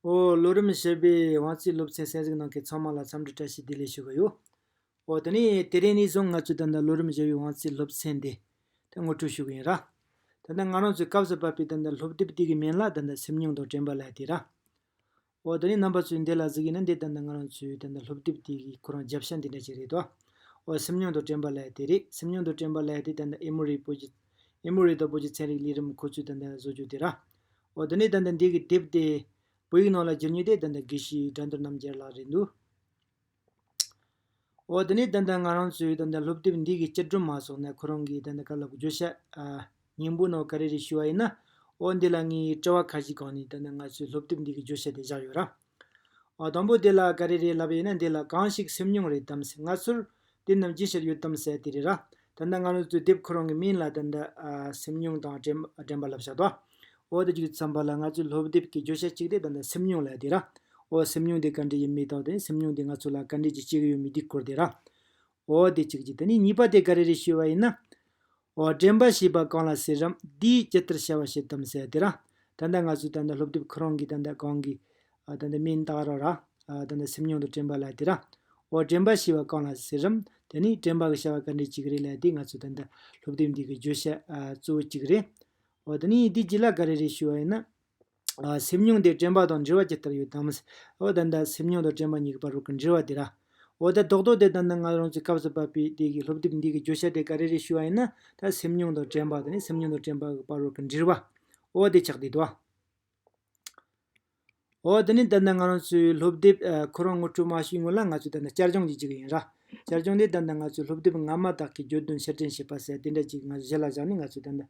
ཨོ། ལོ་རིམ་བཞི་པའི་དབང་རྩའི་སློབ་ཚན་གསན་གཟིགས་གནང་མཁན་ཚང་མ་ལ་འཚམས་འདྲི་བཀྲ་ཤིས་བདེ་ལེགས་ཞུ་གི་ཡོད། ཨོ། དེ་ནས་དེ་རིང་ནས་བཟུང་ང་ཚོས་ད་ལྟ་ལོ་རིམ་བཞི་པའི་དབང་རྩའི་སློབ་ཚན་འདི་ཐད་ངོ་སྤྲོད་ཞུ་གི་ཡིན། ད་ལྟ་ང་རང་ཚོས་སྐབས་སུ་བབས་པའི་ད་ལྟ་སློབ་དེབ་དེ་གའི་མན་ལག་ད་ལྟ་སེམས་མྱོང་དང་དྲན་པ་ལས་དེ་ར། འོ་ད་ནི་རྣམ་པ་ཚོས་འདི་ལ་གཟིགས་ཡིན་ན་འདི་ལྟ་ན་ང་རང་ཚོའི་ད་ལྟ་སློབ་དེབ་དེ་གི་ཁོ་རང་རྒྱབ་ཤ་འདི་འདྲ་ཅིག་རེད་དོ། འོ་སེམས་མྱོང་དང་དྲན་པ་ལས་དེ་རེད་སེམས་མྱོང་དང་དྲན་པ་ལས་དེ་ད་ལྟ་ཨེ་མོ་རི་སྤོ་རྒྱུ། ཨེ་མོ་རི་དང་སྤོ་རྒྱུ་ཚན་རིག་ལས་རིམ་ཁོ་ཚོས་ད་ལྟ་བཟོ་རྒྱུ་དེ་ར། འོ་ད་ནི་ད་ལྟ་འདི་གི་དེབ་དེ། བོད་ཡིག་ནང་ལ་བསྒྱུར་ཉེ་དེ་ད་ལྟ་དགེ་བཤེས་དགྲ་འདུལ་རྣམ་རྒྱལ་ལགས་རེད་འདུག། འོ་དེ་ནས་ད་ལྟ་ང་རང་ཚོས་ད་ལྟ་སློབ་དེབ་འདི་གི་བཅར་སྒྲོན་མ་སོགས་ནས་ཁོ་རང་གིས་ད་ལྟ་ག་ལ་དགོས་བརྗོད་བྱ། སྙིང་པོ་ནང་ག་རེ་རེ་ཞུ་བ་ཡིན་ན། འོ་འདི་ལ་ངའི་དཔྲལ་བ་ཁ་ཞིག་གང་ནས་ད་ལྟ་ང་ཚོས་སློབ་དེབ་འདི་གི་བརྗོད་བྱ་དེ་བཞག་ཡོད་ར། འོ་དང་པོ་དེ་ལ་ག་རེ་རེ་ལབ་ཡོད་ན་འདི་ལ་གང་ཞིག་སེམས་མྱོང་རེད་དམ་ཟེར་ང་ཚོར་དེ་རྣམས་ཅི་ཞིག་ཡོད་དམ་ཟེར་དེ་རེད་ར། ད་ལྟ་སྔ་ལོ་གཙོས་དེབ་ཁོ་རང་གི་མིང་ལ་དང་དུ་སེམས་མྱོང་དང་དྲན་པ་ལབ་བཞག་ཏོ། འོ་དེ་ཅིག་བརྩམས་པ་ལ་ང་ཚོས་ལྷོ་དེབ་ཀྱི་བརྗོད་བྱ་གཅིག་དེ་དང་དུ་སེམས་མྱོང་ལ་དེ་ར། འོ་སེམས་མྱོང་དེ་ག་འདྲ་ཡིན་མི་རྟག་དེ་སེམས་མྱོང་དེ་ང་ཚོ་ལ་ག་འདྲས་ཀྱི་སྐྱེ་གི་ཡོད་མི་འདི་སྐོར་དེ་ར། འོ་དེ་ཅིག་ཅིག་ད་ནི་གཉིས་པ་དེ་ག་རེ་རེ་ཞུས་བ་ཡིན་ན། འོ་དྲན་པ་ཞེས་པ་གང་ལ་ཟེར་རམ་འདིའི་སྤྱི་ལྟར་བྱ་བ་ཞིག་དམ་ཟེར་དེ་ར། ད་ལྟ་ང་ཚོས་ད་ལྟ་ལྷོ་དེབ་ཁོ་རང་གིས་ད་ལྟ་གང་གི་དེ་འདི་མིན་རྟག་རོ་ར། དེ་འདི་སེམས་མྱོང་དུ་དྲན་པ་ལ་དེ་ར། འོ་དྲན་པ་ཞེས་པ་གང་ལ་ཟེར་རམ། དེ་ནི་དྲན་པ་གི་བྱ་བ་ག་འདྲའི་གཅིག་རེད་ལ་དེ་ང་ཚོས་ད་ལྟ་སློབ་དེབ་འདི་གི་བརྗོད་བྱ་གཙོ་བོ་གཅིག་རེད། འོ་དེ་ནི་འདི་ཅི་ལ་ག་རེ་རེད་ཞུས་པ་ཡིན་ན། སེམས་མྱོང་དེ་དྲན་པ་དང་འབྲེལ་བ་ཇི་ལྟར་ཡོད་དམ། འོ་ད་ལྟ་སེམས་མྱོང་དང་དྲན་པ་གཉིས་ཀྱི་བར་རོ་གི་འབྲེལ་བ་དེ་ར། འོ་ད་རྡོག་རྡོག་དེ་ད་ནངས་རང་ཚོའི་སྐབས་སུ་བབས་པའི་དེ་གི་སློབ་དེབ་འདི་གི་བརྗོད་བྱ་དེ་ག་རེ་རེད་ཞུས་པ་ཡིན་ན། ད་སེམས་མྱོང་དང་དྲན་པ་དེ་ནི་སེམས་མྱོང་དང་དྲན་པ་གི་བར་རོ་གི་འབྲེལ་བ། འོ་དེ་ཆགས་དུས་དུ། ཨོ་དེ་ནི་འདི་ནི་ང་རང་ཚོའི་སློབ་དེབ་ཁོ་རང་ངོ་སྤྲོད་མ་ཞུས་སྔོན་ལ་ང་ཚོས་འདི་ནི་བསྐྱར་སྦྱོང་བྱེད་ཀྱི་ཡིན་ར། བསྐྱར་སྦྱོང་འདི་འདི་ནི་ང་ཚོའི་སློབ་དེབ་སྔ་མ་དག་གི་བརྗོད་དོན་ཕྱིར་དྲན་བྱེད་པ་ཟེར་དེ་འདྲ་ཅིག་ང་ཚོས་གཞི་ལ་བཞག་ནས་ང་ཚོས་འདི་འདི་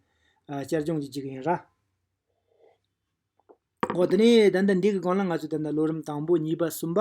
བསྐྱར་སྦྱོང་བྱེད་ཀྱི་ཡིན་ར། ཨོ་དེ་ནི་འདི་འདི་འདི་གི་སྒང་ལ་ང་ཚོས་འདི་འདི་ལོ་རིམ་དང་པོ་གཉིས་པ་གསུམ་པ།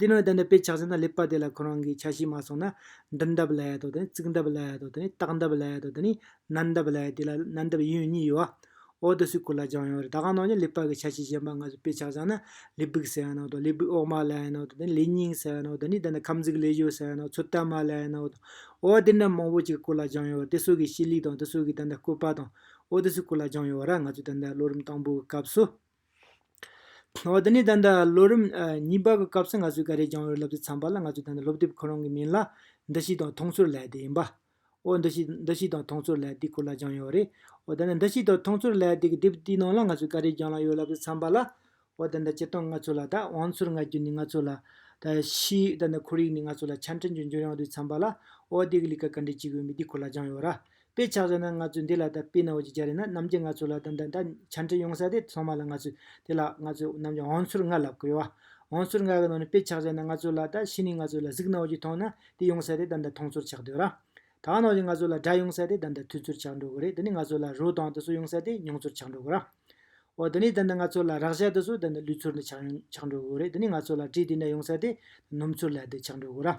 དེ་ནས་དེ་འདྲ་དཔེ་ཆགས་ཟིན་ན་ལེགས་པ་དེ་ལ་ཁོ་རང་གིས་ཆ་ཤས་མ་སོང་ན། འདིར་འདབ་ལ་ཡ་དང་དེ་ནས་རྩིག་འདབ་ལ་ཡ་དང་དེ་ནས་ལྟག་འདབ་ལ་ཡ་དང་དེ་ནས་ནན་འདབ་ལ་ཡ་དེ་ལ་ནན་འདབ་ཡིན་ཡང་གཉིས་ཡོད། འོག་ཏུ་སུས་གོ་ལ་སྦྱངས་ཡོད་རེད་ད་གང་ནང་བཞིན་ལེགས་པ་གི་ཆ་ཤས་གཞན་པ་ང་ཚོས་དཔེ་ཆགས་སྦྱངས་ན་ལི་སྦུག་ཟེར་བའི་ནང་དང་ལི་སྦུག་འོག་མ་ལ་ཡའི་ནང་དང་དེ་ནས་ལི་སྙིང་ཟེར་བའི་ནང་དང་དེ་ནས་ཁམས་གཟུགས་ལས་བཞོ་ཟེར་བའི་ནང་ཚོད་ལྟ་མ་ལ་ཡའི་ནང་དང། འོ་དེ་འདྲ་མང་པོ་ཅིག་གོ་ལ་སྦྱངས་ཡོད་རེད་དེ་སོགས་ཀྱི་ཤེས་ལུགས་དང་དེ་སོགས་ཀྱི་དེ་འདྲ་བཀོད་པ་དང། འོ་དེ་སུས་གོ་ལ་སྦྱངས་ཡོད་ར་ང་ཚོས་དེ་འདྲ་ལོ་རིམ་དང་པོའི་སྐབས་སུ། འོ་དེ་ནས་ད་ལྟ་ལོ་རིམ་གཉིས་པ་གི་སྐབས་སུ་ང་ཚོས་འགའ་རེ་རྒྱང་ཡོལ་ལབ་ཙེ་ཚང་པ་ལ་ང་ཚོས་ད་ནི་སློབ་དེབ་ཁོ་རང་གི་མིང་ལ་འདི་ཞིག་དང་མཐོང་ཚོར་ལད་དེ་ཡིན་པ། འོ་འདི་ཞིག་འདི་ཞིག་དང་མཐོང་ཚོར་ལད་དེ་ཁོ་ལ་རྒྱང་ཡོལ་རེད། འོ་ད་ནི་འདི་ཞིག་དང་མཐོང་ཚོར་ལད་དེ་གི་དེབ་དེའི་ནང་ལ་ང་ཚོས་འགའ་རེ་རྒྱང་ལ་ཡོལ་ལབ་ཙེ་ཚང་པ་ལ། འོ་ད་ནི་སྤྱིར་བཏང་ང་ཚོ་ལ་ད་བང་ཚུར་ལྔ་རྒྱུ་ནི་ང་ཚོ་ལ་ད་ཤི་ད་ནི་ཁོར་ཡུག་ནི་ང་ཚོ་ལ་ཆ་འཕྲིན་རྒྱུ་འབྱོར་ཡང་དུས་ཚང་པ་ལ་འོ་དེ་གི་ལི་ཀ་ག་འདྲའི་ཅིག་ཡོད་མེད་དེ་ཁོ་ལ་རྒྱང་ཡོལ་ར་དཔེ་ཆགས་ཟེར་ན་ང་ཚོས་འདི་ལ་ད་དཔེ་ནའོ་ཅིག་བྱ་རེད་ན་རྣམ་རྒྱལ་ང་ཚོ་ལ་ད་འདི་འདྲ་བྱ་འཕྲལ་ཡོང་ས་དེ་ཚང་མ་ལ་ང་ཚོས་དེ་ལ་ང་ཚོས་རྣམ་རྒྱལ་འོང་ཚུར་ང་ལ་གོ་བ། འོང་ཚུར་ང་གི་ནང་ནས་དཔེ་ཆགས་ཟེར་ན་ང་ཚོ་ལ་ད་ཕྱི་ནས་ང་ཚོ་ལ་གཟིགས་ནའོ་ཅིག་མཐོང་ན་དེ་ཡོང་ས་དེ་ད་འདྲ་མཐོང་ཚུར་ཆགས་སྡོད་ར། ད་ཨ་ནའོ་ཅིག་ང་ཚོ་ལ་སྒྲ་ཡོང་ས་དེ་ད་འདྲ་ཐོས་ཚུར་ཆགས་འགྲོ་གི་རེད་དེ་ནས་ང་ཚོ་ལ་རོ་དང་དེ་ཚོ་ཡོང་ས་དེ་མྱོང་ཚུར་ཆགས་འགྲོ་གི་ར། འོ་དེ་ནས་ད་འདྲ་ང་ཚོ་ལ་རག་བྱ་དེ་ཚོ་ད་འདྲ་ལུས་ཚུར་འདྲ་ཆགས་འགྲོ་གི་རེད་དེ་ནས་ང་ཚོ་ལ་དྲི་དེ་འདྲ་ཡོང་ས་དེ་ནུམ་ཚུར་ལ་འདྲ་ཆགས་འགྲོ་གི་ར།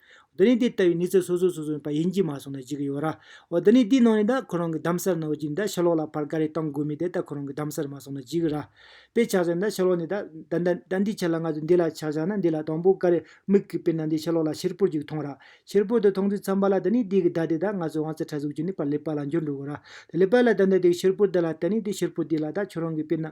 འདི་ནི་དེ་ལྟ་བུའི་གནས་ཚུལ་སོ་སོའི་སོ་སོ་ཡིན་པ་ཡིན་གྱི་མ་སོང་ན་ཅི་གི་ཡོད་ར། འོ་འདི་ནི་དེའི་ནང་ནས་ད་ཁོ་རང་གི་གདམ་གསར་ནང་བ་ཅིག་ནི་ད་ཕྱི་ལོག་ལ་བར་ག་རེ་གཏང་དགོས་མིན་དེ་ད་ཁོ་རང་གི་གདམ་གསར་མ་སོང་ན་ཅི་གི་ར། དཔེ་ཆགས་སོ་ན་ད་ཕྱི་ལོག་ནས་ད། ད་འདི་ཆ་ལ་ང་ཚོས་འདི་ལ་ཆ་བཞག་ན་འདི་ལ་དང་པོ་ག་རེ་དམིགས་གི་དཔེར་ན་འདི་ཕྱི་ལོག་ལ་ཕྱིར་ཕུར་ཅིག་མཐོང་ར། ཕྱིར་ཕུར་དེ་མཐོང་དུས་ཚངས་པ་ལ་འདི་ནི་དེའི་གི་ད་དེ་ད་ང་ཚོས་དབང་རྩ་ཕྲ་གཟུགས་ཀྱི་ནི་བར་ལེགས་པ་ལ་འགྱུར་འགྲོ་གི་ར། ལེགས་པ་ལ་ད་འདི་དེའི་ཕྱིར་ཕུར་དེ་ལ་ད་ནི་དེའི་ཕྱིར་ཕུར་དེ་ལ་ད་ཁྱོད་རང་གི་དཔེར་ན།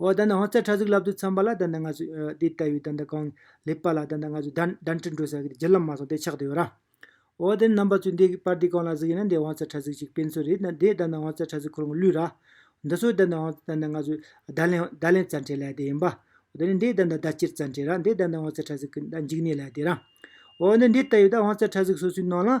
འོ་ད་ནི་ཧོར་ཚ་ཁྲ་ཟིག་ལབ་ཏུ་འཚམས་པ་ལ་ད་ནི་ང་ཚོས་དེ་ལྟ་བུའི་ད་ནི་གང་ལེགས་པ་ལ་ད་ནི་ང་ཚོས་གདན་འདྲེན་བྲོ་ཟ་གི་རྒྱུ་ལམ་མ་སོང་དེ་ཆགས་དུ་ཡོད་ར། འོ་དེ་ནི་རྣམ་པ་ཚོས་འདི་པར་འདི་གང་ལ་ཟིག་ཡིན་ན་འདི་ཧོར་ཚ་ཁྲ་ཟིག་ཅིག་སྤེན་ཚུལ་རེད་ན་དེ་ད་ནི་ཧོར་ཚ་ཁྲ་ཟིག་ཁོར་ངོ་བླུད་ར། འདི་ཚོ་ད་ནི་ཧོར་ད་ནི་ང་ཚོས་བརྡ་ལན་བརྡ་ལན་རྩ་འཕྲེད་ལ་དེ་ཡིན་པ། འོ་ད་ནི་འདི་ད་ནི་བརྡ་སྤྱིར་རྩ་འཕྲེད་ར་འདི་ད་ནི་ཧོར་ཚ་ཁྲ་ཟིག་གི་འཇིག་གནས་ལ་དེ་ར། འོ་ནི་འདི་ལྟ་བུའི་ད་ཧོར་ཚ་ཁྲ་ཟིག་སོ་སོའི་ནང་ལའང་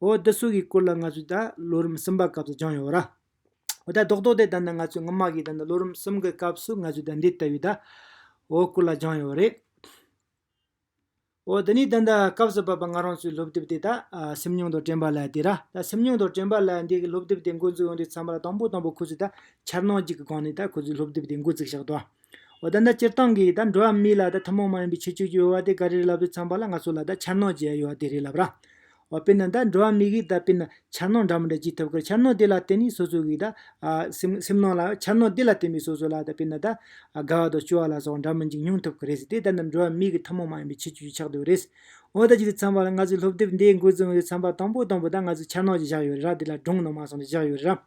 འོ་བདུད་སུག་གི་སྐོར་ལ་ང་ཚོས་ད་ལོ་རིམ་གསུམ་པ་སྐབས་སུ་སྦྱངས་ཡོད། འོ་ད་རྡོག་རྡོག་དེ་ད་ནི་ང་ཚོས་སྔོན་མ་གི་ད་ནི་ལོ་རིམ་གསུམ་གི་སྐབས་སུ་ང་ཚོས་ད་འདི་ལྟ་བུའི་ད་འོ་སྐོར་ལ་སྦྱངས་ཡོད་རེད། འོ་འདི་ནི་ད་ནི་སྐབས་སུ་བབས་པ་ང་རང་ཚོའི་སློབ་དེབ་དེ་ད་སེམས་མྱོང་དང་དྲན་པ་ལ་དེ་ར་ད་སེམས་མྱོང་དང་དྲན་པ་ལ་འདི་གི་སློབ་དེབ་དེ་འགོ་འཛུགས་ཡོང་དུས་ཚང་མ་ལ་དང་པོ་དང་པོ་ཁོ་ཚོས་ད་འཆར་སྣང་གཅིག་གི་སྒང་ནས་ད་ཁོ་ཚོའི་སློབ་དེབ་དེ་འགོ་བཙུགས་ཤག་ཏུ། འོ་ད་ད་སྤྱིར་བཏང་གི་ད་འགྲོ་བ་མི་ལ་ད་ཐུན་མོང་མ་ཡིན་པའི་ཆོས་བཅུ་ཡོད་བ་དེ་ག་རེ་ལབ་རེ་ཚང་པ་ལ་ང་ཚོ་ལ་ད་འཆར་ནོར་བྱེད་ཡ་ཡོད་བ་དེ་རེད་ལབ་ར། འོ་དཔེར་ན་ད་འགྲོ་བ་མི་གིས་ད་དཔེར་ན་འཆར་ནོར་འདྲ་མོ་འདྲ་བགྱིད་ཐུབ་ཁར་འཆར་ནོར་དེ་ལ་བརྟེན་ནས་སོ་སོ་གིས་ད་སེམས་སེམས་ནོར་ལ་འཆར་ནོར་དེ་ལ་བརྟེན་པའི་སོ་སོ་ལ་ད་དཔེར་ན་ད་དགའ་བ་དང་སྐྱོ་བ་ལ་སོགས་འདྲ་མིན་ཅིག་མྱོང་ཐུབ་ཁར་རེད་དེ་ད་ནི་འགྲོ་བ་མི་གི་ཐུན་མོང་མ་ཡིན་པའི་ཆོས་བཅུ་ཆགས་འདུག་རེད། འོ་ད་ཇི་ལྟར་ཚང་པ་ལ་ང་ཚོའི་སློབ་དེབ་འདིའི་འགོ་བཙུགས་ཡོད་ཚང་པ་དང་པོ་དང་པོ་ད་ང་ཚོའི་འཆར་ནོར་གྱི་བཞག་ཡོད་རེད་ར་དེ་ལ་སྒྲུང་ནོར་མ་སོགས་འདྲ་བཞག་ཡོད་རེད་ར།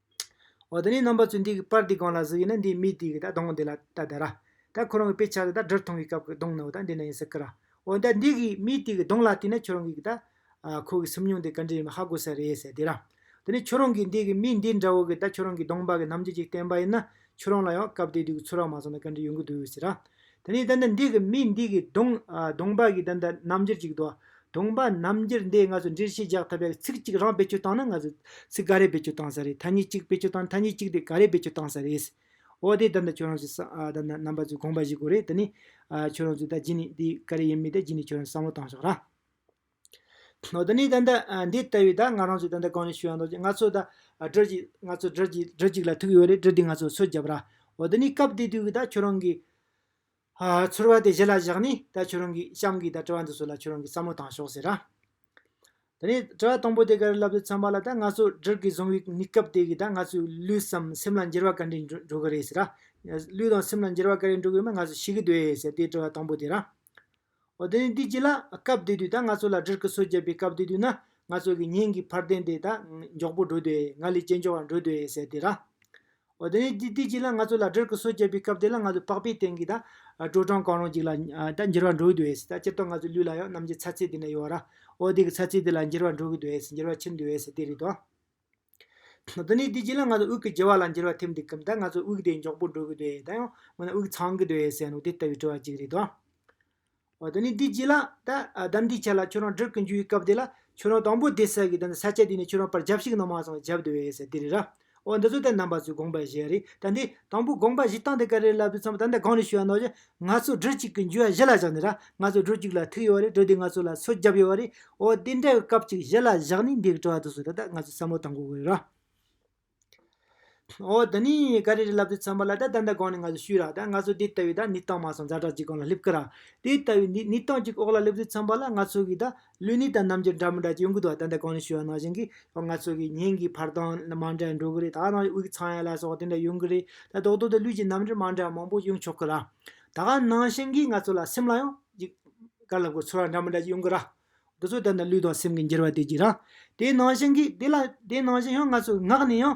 འོ་ད་ནི་རྣམ་པ་ཚོས་འདི་གི་པར་འདི་གང་ལ་གཟིགས་ཡིན་ན་འདིའི་མིག་དེ་གི་ད་གདོང་འདི་ལ་ད་བལྟ་ར། ད་ཁོ་རང་གི་དཔེ་ཆ་དེ་ད་སྦྲུལ་མཐོང་བའི་སྐབས་ཀྱི་གདོང་ནི་འོ་ད་འདི་ན་ཡིན་ཟེར་གི་ར། འོན་ཏེ་འདི་གི་མིག་དེ་གི་གདོང་ལ་བལྟས་ན་ཁྱོད་རང་གི་གི་ད། ཁོ་གི་སེམས་མྱོང་དེ་ག་འདྲ་ཡིན་པ་ཧ་གོ་ས་རེད་ཟེར་དེ་ར། ད་ནི་ཁྱོད་རང་གིས་འདི་གི་མིག་འདི་འདྲ་བོ་གི་ད་ཁྱོད་རང་གི་གདོང་འབག་གི་རྣམ་འགྱུར་ཅིག་བསྟན་པ་ཡིན་ན་ཁྱོད་རང་ལ་ཡང་སྐབས་དེ་དུས་ཀྱི་ཚོད་རག་མ་སོང་ན་ག་འདྲ་ཡོང་གི་འདུག་ཟེར་ར། དེ་ནས་ད་ནི་འདི་གི་མི་འདི་གིས་དུང་དུང་པ་གིས་ད་ནི་རྣམ་འགྱུར་ཅིག་དུ། དུང་པ་རྣམ་འགྱུར་འདི་ང་ཚོ་འདྲིར་ཤེས་རྒྱག་ཐུབ་པའི་ཚིག་གཅིག་རང་བེད་སྤྱོད་བཏང་ན་ང་ཚོ་ཚིག་ག་རེ་བེད་སྤྱོད་བཏང་ས་རེད་ཐ་སྙད་གཅིག་བེད་སྤྱོད་བཏང་ན་ཐ་སྙད་གཅིག་དེ་ག་རེ་བེད་སྤྱོད་བཏང་ས་རེད། འོ་དེ་ད་ནི་ཁྱོད་རང་ཚོས་ད་ནི་རྣམ་པ་ཚོས་དགོངས་པ་བཞེས་དགོས་རེད་དེ་ནས། ཁྱོད་རང་ཚོས་ད་གཞི་ནས་དེ་ག་རེ་ཡིན་མིན་དེ་གཞི་ནས་ཁྱོད་རང་ཚོས་བསམ་བློ་བཏང་ཤོག་ར། ནི་ད་ལྟ་འདི་ལྟ་བུའི་ད་ང་རང་ཚོ་ད་ལྟ་གང་ནས་བྱུང་ཡང་ཐོག་ཅིག་ང་ཚོ་ད་སྦྲུལ་གཅིག་ང་ཚོ་སྦྲུལ་གཅིག་སྦྲུལ་གཅིག་ལ་ཐུག་ཡོད་རེད་སྦྲུལ་དེ་ང་ཚོ་འཚོལ་རྒྱབ་ར་འོ་ད་ནི་སྐབས་དེ་དུས་ཀྱི་ད་ཁྱོད་རང་གི། ཚོར་བ་དེ་གཞི་ལ་བཞག་ནས་ད་ཁྱོད་རང་གི་གཤམ་གྱི་ད་དྲི་བ་འདི་ཚོ་ལ་ཁྱོད་རང་གིས་བསམ་བློ་བཏང་ཤོག་ཟེར་ར། ད་ནི་དྲི་བ་དང་པོ་དེ་ག་རེ་ལབ་ཏུ་འཚམས་པ་ལ་ད་ང་ཚོ་སྦྲུལ་གྱིས་བཟུང་བའི་ནི་སྐབས་དེ་གི་ད་ང་ཚོའི་ལུས་སམ་སེམས་ལ་འགྱུར་བ་ག་འདྲས་འགྲོ་གི་རེད་ཟེར་ར། ལུས་དང་སེམས་ལ་འགྱུར་བ་ག་རེ་འགྲོ་གི་ཡོད་མེད་ང་ཚོ་ཤེས་ཀྱི་འདུག་ཟེར་དེའི་དྲི་བ་དང་པོ་དེ་ར། ཨོ་ད་ནི་འདི་ཅི་ལགས་སྐབས་བདེ་དུས་ད་ང་ཚོ་ལ་འདྲིར་ཀི་སོ་བརྒྱབ་པའི་སྐབས་བདེ་དུས་ན་ང་ཚོ་གི་ཉིན་གི་ཕར་བསྟན་དེ་ད་མགྱོགས་པོ་འགྲོ་དུས་ང་ལས་ཅན་མགྱོགས་ལ་འགྲོ་དུས་ཟེར་དེ་ར། ཨོ་ད་ནི་འདི་འདི་ཅི་ལགས་ང་ཚོ་ལ་འདྲིར་ཀི་སོ་བརྒྱབ་པའི་སྐབས་དེ་ལ་ང་ཚོ་པགས་པའི་སྟེང་གི་ད་དྲོ་གྲང་གང་རུང་ཅིག་ལ་ད་འགྱིར་བ་འགྲོ་དུས་ད་སྤྱིར་བཏང་ང་ཚོའི་ལུས་ལ་ཡང་རྣམ་འགྱེད་ཚ་ཚད་དེ་འདྲ་ཡོད་ར། ཨོ་དེ་གི་ཚ་ཚད་དེ་ལ་འགྱིར་བ་འགྲོ་གི་དུས་འགྱིར་བ་ཕྱིན་དུས་དེ་རེད་དོ། འདི་ནས་དེ་རྗེས་ལ་ང་ཚོ་དབུགས་ཀྱི་བརྗེ་བ་ལ་འགྱུར་བ་ཐེབས་འདུག་གམ་ད་ང་ཚོ་དབུགས་དེ་མགྱོགས་པོ་འགྲོ་གི་འདོད་ད་ཡང་མིན་ན་དབུགས་ཚང་གི་འདོད་ཟེར་ནུ་དེ་ལྟ་བུའི་དྲི་བ་གཅིག་རེད་དོ། འོ་དེ་ནས་དེ་རྗེས་ལ་ད་གདམས་འདི་ཆ་ལ་ཁྱོད་རང་འགྲིག་གི་འཇུག་གི་སྐབས་དེ་ལ་ཁྱོད་རང་དང་པོ་དེ་ཟེར་གི་ད་ནི་ས་ཆ་དེ་ནས་ཁྱོད་རང་པར་བརྒྱབ་ཤིག་ནང་མ་སོང་བརྒྱབ་འདོད་ཟེར་དེ་རེད་ར། འོ་འདི་ཚོ་ད་ནང་པ་ཚོས་དགོངས་པ་བཞེས་རེད་ད་འདི་དང་པོ་དགོངས་པ་བཞེས་སྟངས་དེ་ག་རེ་ལབ་དུས་ཚང་མ་ད་ནི་གང་རེ་ཞུ་བ་ནོར་བཞིན་ང་ཚོ་སྦྲུལ་གཅིག་གི་འགྱུར་བ་གཞི་ལ་བཞག་ནས་ར་ང་ཚོ་སྦྲུལ་གཅིག་ལ་ཐུག་ཡོད་བ་རེད་སྦྲུལ་དེ་ང་ཚོ་ལ་ཚོད་བརྒྱབ་ཡོད་བ་རེད་འོ་དེ་འདྲ་བའི་སྐབས་ཅིག་གཞི་ལ་བཞག་ནས་འདི་དྲི་བ་དུ་སོང་ད་ལྟ་ང་ཚོས་བསམ་བློ་བཏང་དགོས་དགོས་རེད་ར། འོ་ད་ནི་ག་རེ་རེད་ལབ་དུས་ཚང་མ་ལ་ད་ད་འདའ་གང་ནས་ང་ཚོས་ཤུས་ར་ད་ང་ཚོ་དེ་ལྟ་བུའི་ད་ནི་སྟངས་མ་སོང་ཛ་དྲག་ཅིག་གང་ལ་སླེབས་ཀི་ར། དེ་ལྟ་བུའི་ནི་ནི་སྟངས་ཅིག་འོག་ལ་སླེབས་དུས་ཚང་མ་ལ་ང་ཚོ་གིས་ད་ལུས་ནི་དང་རྣམ་འགྱུར་འདྲ་མི་འདྲ་གྱིས་འགུལ་འདུག་ད་ལྟ་གང་ནས་ཤུལ་བ་ནང་བཞིན་གྱི་ཡང་ང་ཚོ་གི་ཉིན་གྱི་བར་སྟོང་ནི་མང་དྲགས་འགྲོ་གི་རེད་ད་ནང་དབུས་ཀྱི་ཚངས་དབྱངས་ལ་སོགས་དེ་འདྲ་ཡོང་གི་རེད་ད་རྡོག་རྡོག་ཏུ་ལུས་ཀྱི་རྣམ་འགྱུར་མང་དྲགས་མང་པོ་ཡོང་ཆོག་གི་ར། ད་གང་ནང་བཞིན་གྱི་ང་ཚོ་ལ་སེམས་ལ་ཡང་ཡིད། དཀར་ལྷ་སྐུ་ཚོར་བ་འདྲ་མི་འདྲ་གྱིས་ཡོང་གི་ར། འདི་ཚོ་ད་ནི་ལུས་དང་སེམས་ཀྱི་འགྱུར་བ་དེ་གྱིས་ར། དེ་ནང་བཞིན་གྱི་དེ་ལ་དེ་ནང་བཞིན་ཡང་ང་ཚོའི་ངག་ནས་ཡང།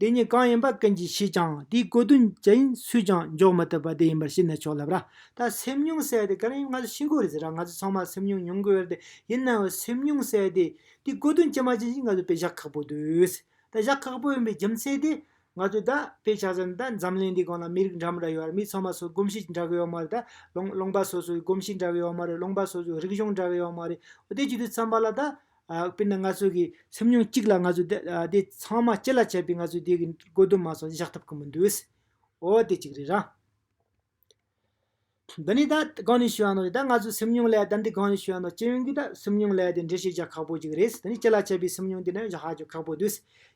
དེ་ཉིད་གང་ཡིན་པ་ཀུན་གྱིས་ཤེས་ཀྱང་དེའི་གོ་དོན་ཇི་ཡིན་སུས་ཀྱང་འཇོག་མི་ཐུབ་པ་དེ་ཡིན་པར་ཤེས་ནས་ཆོག་ལབ། ར་ད་སེམས་མྱོང་གསལ་དེ་ག་རེ་ཡིན་ང་ཚོ་ཤེས་དགོས་རེད་ཟེར་ར་ང་ཚོས་ཚང་མ་སེམས་མྱོང་མྱོང་དགོས་རེད་ཡིན་ནའང་སེམས་མྱོང་གསལ་དེ་དེའི་གོ་དོན་ཇི་མ་ཇི་བཞིན་ང་ཚོས་དཔེ་བཞག་ཁག་པོ་དུས་ད་བཞག་ཁག་པོ་ཡིན་པའི་རྒྱུ་མཚན་དེ། ང་ཚོས་ད་དཔེ་ཆ་ཟེར་ན་ད་འཛམ་གླིང་འདིའི་སྒང་ལ་མི་རིགས་འདྲ་མི་འདྲ་ཡོད་རེད་མི་ཚང་མ་སོ་སོའི་གོམས་གཤིས་འདྲ་གི་ཡོད་མ་རེད་ད་ལོང་ལོང་པ་སོ་སོའི་གོམས་གཤིས་འདྲ་གི་ཡོད་མ་རེད་ལོང་པ་སོ་སོའི་རིག་གཞུང་འདྲ་གི་ཡོད་མ་རེད་འོ་དེའི་རྒྱུ་དེ་ཚང་མ་ལ་ད་དཔེར་ན་ང་ཚོ་གི་སེམས་མྱོང་གཅིག་ལ་ང་ཚོ་དེ་ཚང་མ་ཅི་ལ་བྱས་པའི་ང་ཚོ་དེ་གི་དགོས་དོན་མ་སོགས་བཞག་ཐུབ་ཀི་མི་འདུག་ཨོ་དེ་གཅིག་རེད་ར། འདི་ནི་ད་གང་ནས་ཤེས་ཡོང་ན་ད་ང་ཚོ་སེམས་མྱོང་ལས་ད་འདི་གང་ནས་ཤེས་ཡོང་ན་སྤྱི་ཡོངས་ཀི་ད་སེམས་མྱོང་ལས་དེ་འགྲེལ་བཤད་བཞག་ཁག་པོ་ཅིག་རེད་དེ་ནི་ཅི་ལ་བྱས་པའི་སེམས་མྱོང་དེ་ནི་བཞག་ཧ་ཅང་ཁག་པོ་འདུག་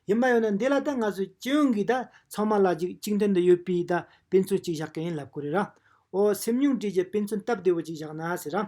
ཡིན་པ་ཡོད་ན་འདི་ལ་ད་ང་ཚོ་སྤྱི་ཡོངས་ཀི་ད་ཚང་མ་ལ་གཅིག་གཅིག་མཐུན་དུ་ཡོད་པའི་ད་དཔེ་མཚོན་གཅིག་བཞག་གི་ཡིན་ལབ་ཀི་རེད་ར། ཨོ་སེམས་མྱོང་བྲིས་ཀྱི་དཔེ་མཚོན་སྟབས་བདེ་བོ་ཅིག་བཞག་ན་ཟེར་ར།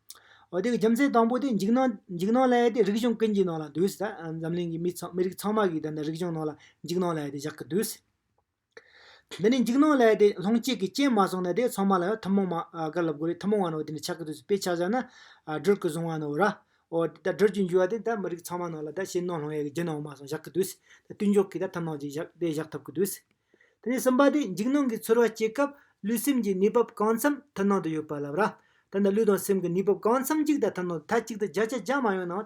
འོ་དེ་གི་རྒྱུ་མཚན་དང་པོ་དེ་འཇིགས་སྣང་འཇིགས་སྣང་ལས་དེ་རིག་གཞུང་ཀུན་གྱི་ནང་ལ་འདུས་ཟེར་ད་འཛམ་གླིང་གི་མི་ཚང་མི་རིགས་ཚང་མ་གིས་ད་ནི་རིག་གཞུང་ནང་ལ་འཇིགས་སྣང་ལས་དེ་བཞག་གི་འདུས། འདི་ནི་འཇིགས་སྣང་ལས་དེ་ལྷུང་བསྐྱེད་ཀྱི་རྐྱེན་མ་བཟུང་ནས་དེ་ཚང་མ་ལ་ཡང་ཐུན་མོང་མ་ག་ལ་དགོས་རེད་ཐུན་མོང་བ་ནང་དེ་ནི་ཆགས་ཀྱི་འདུས་དཔེ་ཆ་བཞག་ན་སྒྲོལ་གི་བཟུང་བ་ནོར་ར་འོ་དེ་ད་སྒྲོལ་གྱི་འཇུག་བ་དེ་ད་མི་རིགས་ཚང་མ་ནང་ལ་ད་ཕྱི་ནང་ལྷུང་ཡས་ཀྱི་རྒྱུ་ནོར་མ་བཟུང་བཞག་གི་འདུས་ད་དུས་འཇོག་གི་ད་ཐུན་མོང་བྱས་བཞག་དེ་བཞག་ཐུབ་ཀྱི་འདུས། དེ་ནས་གསུམ་པ་དེ་འཇིགས་སྣང་གི་ཚོར་བ་སྐྱེས་སྐབས་ལུས་སེམས་ཀྱི་གནས་བབ་གང་འཚམ་ཐ་སྣང་དུ་ཡོད་པ་ལབ་ར། ད་ལྟ་ལུས་དང་སེམས་ཀྱི་གནས་བབ་གང་འཚམ་གཅིག་དང་ཐ་སྣང་དུ་ཐ་གཅིག་ཏུ་བརྒྱ་ཆ་བརྒྱ་མ་ཡོང་ནའང།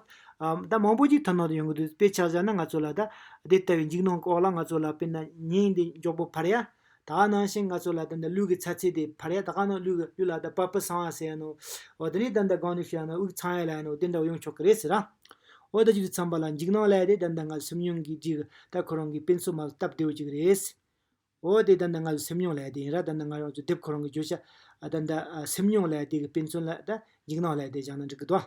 ད་མང་པོ་ཅིག་ཐ་སྣང་དུ་ཡོང་གི་འདུག་དཔེ་ཆ་བཞག་ན་ང་ཚོ་ལ་ད་དེ་ལྟ་བུའི་འཇིགས་སྣང་གི་འོག་ལ་ང་ཚོ་ལ་དཔེར་ན་ཉིན་འདི་མགྱོགས་པོ་འཕར་ཡ། ད་ག་ནང་བཞིན་ང་ཚོ་ལ་ད་ལྟ་ལུས་ཀྱི་ཚ་ཚད་དེ་འཕར་ཡ་ད་ག་ནང་ལུས་ཀྱི་ལུས་ལ་ད་པ་པི་སངས་ཡ་ཟེར་ཡ་ནའོ། འོ་དེ་ནས་ད་ལྟ་སྒང་ནས་ཤི་ཡ་ནའོ་དབུགས་འཚང་ཡ་ལ་ཡ་ནའོ་དེ་འདྲ་བ་ཡོང་ཆོག་གི་རེད་ཟེར་ར། འོ་ད་ཅིག་ཚངས་པ་ལ་འཇིགས་སྣང་ལས་དེ་ལྡན་ཟླ་ལྔ་སེམས་མྱོང་གིས་འཇིགས་ད་ཁོ་རང་གི་དཔེ་མཚོན་མ་ལ་སྟབས་བདེ་བོ་ཅིག་རེད། འོ་དེ་ལྡན་ཟླ་ལྔ་སེམས་མྱོང་ལས་དེ་ཡིན་ར་ད་ལྡན་ང་རང་ཚོ་དེབ་ཁོ་རང་གི་བརྗོད་བྱ་ལྡན་ད་སེམས་མྱོང་ལས་དེ་གི་དཔེ་མཚོན་ལ་ད་འཇིགས་སྣང་ལས་དེ་བཞག་ན་འགྲིག་གི་འདུག་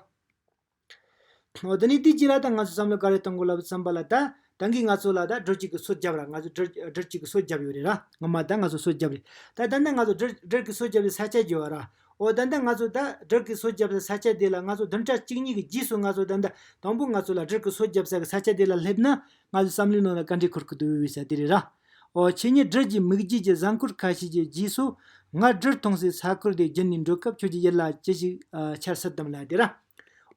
ཨ། འོ་ད་ནི་དེ་ཅི་ར་ད་ང་ཚོ་བསམ་བློ་ག་རེ་གཏོང་དགོས་ལབ་ཚངས་པ་ལ་ད་རང་གིས་ང་ཚོ་ལ་ད་སྦྲུལ་གཅིག་གིས་སོ་བརྒྱབ་ར་ང་ཚོས་སྦྲུལ་གཅིག་གིས་སོ་བརྒྱབ་ཡོད་རེད་ར་ངོ་མ་ད་ང་ཚོས་སོ་བརྒྱབ་རེད་ད་ད་ནི་ང་ཚོས་སྦྲུལ་གྱིས་སོ་བརྒྱབ་པའི་ས་ཆ་བརྗེ་བ་ར་འོ་ད་ད་ང་ཚོས་ད་སྦྲུལ་གྱིས་སོ་བརྒྱབ་ས་ས་ཆ་དེ་ལ་ང་ཚོ་བདུན་ཕྲག་གཅིག་གཉིས་ཀྱི་རྗེས་སུ་ང་ཚོ་ད་ད་དང་པོ་ང་ཚོ་ལ་སྦྲུལ་གྱིས་སོ་བརྒྱབ་ས་གི་ས་ཆ་དེ་ལ་སླེབས་ན་ང་ཚོས་བསམ་བློའི་ནང་ལ་བཀའ་འདྲི་འཁུར་གི་འདུག་བས་ས་དེ་རེད་ར་འོ་ཁྱེད་གཉིས་སྦྲུལ་གྱི་མིག་འབྱེད་ཀྱི་བཟང་སྐོར་ཁ་ཤས་ཀྱི་རྗེས་སུ་ང་སྦྲུལ་མཐོང་སའི་ས་ཁུལ་དེ་བརྒྱུད་ནས་འགྲོ་སྐབས་ཁྱོད་ཀྱི་ཡིད་ལ་ཅི་ཞིག་འཆར་སྲིད་དམ་ལ་དེ་ར།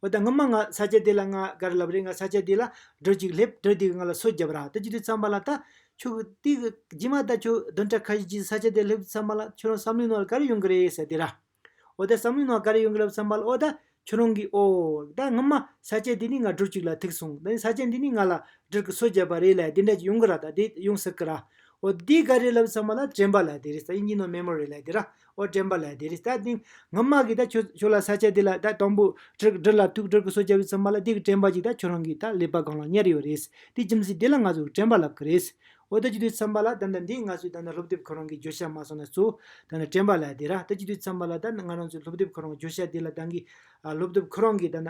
འོ་ད་ངའ་མ་ང་ས་སྐྱ་དེ་ལ་ང་ག་རེ་ལབ་རེད་ང་ས་སྐྱ་དེ་ལ་སྒྲོལ་ཅིག་སླེབས་སྒྲོལ་དེ་གི་ང་ལ་སོ་རྒྱབ་རག་ད་ཅི་དུས་བསམ་པ་ལ་ད་ཁྱོད་ཀྱི་དེ་གི་རྗེས་མ་ད་ཁྱོད་བདུན་ཕྲག་ཁ་ཤས་རྗེས་སུ་ས་སྐྱ་དེ་སླེབས་དུས་བསམ་པ་ལ་ཁྱོད་རང་བསམ་བློའི་ནང་ལ་ག་རེ་ཡོང་གི་རེད་ཟེར་དེ་ར། འོ་ད་བསམ་བློའི་ནང་ག་རེ་ཡོང་གི་ལབ་བསམ་པ་ལ་འོ་ད་ཁྱོད་རང་གིས་ཨོ། ད་ངའ་མ་ས་སྐྱ་དེ་ནི་ང་སྒྲོལ་ཅིག་ལ་ཐུག་སོང་ད་ནི་ས་སྐྱ་འདི་ནི་ང་ལ་སྒྲོལ་གི་སོ་རྒྱབ་པ་རེད་ལ་དེ་འདྲ་ཅིག་ཡོང་གི་ར་ད་དེ་ཡོང་སྲིད་གི་ར། འོ་ད་དེ་ག་རེ་ལབ་བསམ་པ་ལ་དྲན་པ་ལ་དེ་རེད་ད་དབྱིན་ཇིའི་ནང་མེ་མོ་རེད་ལ་དེ་ར་ཨོ་དྲན་པ་ལ་དེ་རིང་ད་ཐེངས་ངའི་དམག་གིས་ད་ཁྱོད་ཁྱོད་ལ་ས་ཆ་དེ་ལ་ད་དང་པོ་དྲིལ་དྲིལ་ལ་ཐུག་དྲིལ་གི་སོ་བཅའ་བའི་ཚུལ་མ་ལ་དེ་གི་དྲན་པ་ཅིག་ད་ཁྱོད་རང་གིས་ད་ལས་པ་གང་ལ་གཉེར་ཡོད་རེད། དེ་ཁྱིམ་སྲིད་དེ་ལ་ང་ཚོས་དྲན་པ་ལབ་གི་རེད། ཨོ་ད་ཅི་དུས་འཚམས་པ་ལ་ད་ད་འདི་ང་ཚོས་ད་ད་སློབ་དེབ་ཁོ་རང་གིས་བརྗོད་བྱ་མ་སོང་ན་གཙོ་བོ་ད་ད་དྲན་པ་ལ་དེ་ར་ད་ཅི་དུས་འཚམས་པ་ལ་ད་ང་རང་ཚོས་སློབ་དེབ་ཁོ་རང་བརྗོད་བྱ་དེ་ལ་ད་གི་སློབ་དེབ་ཁོ་རང་གིས་ད་ད།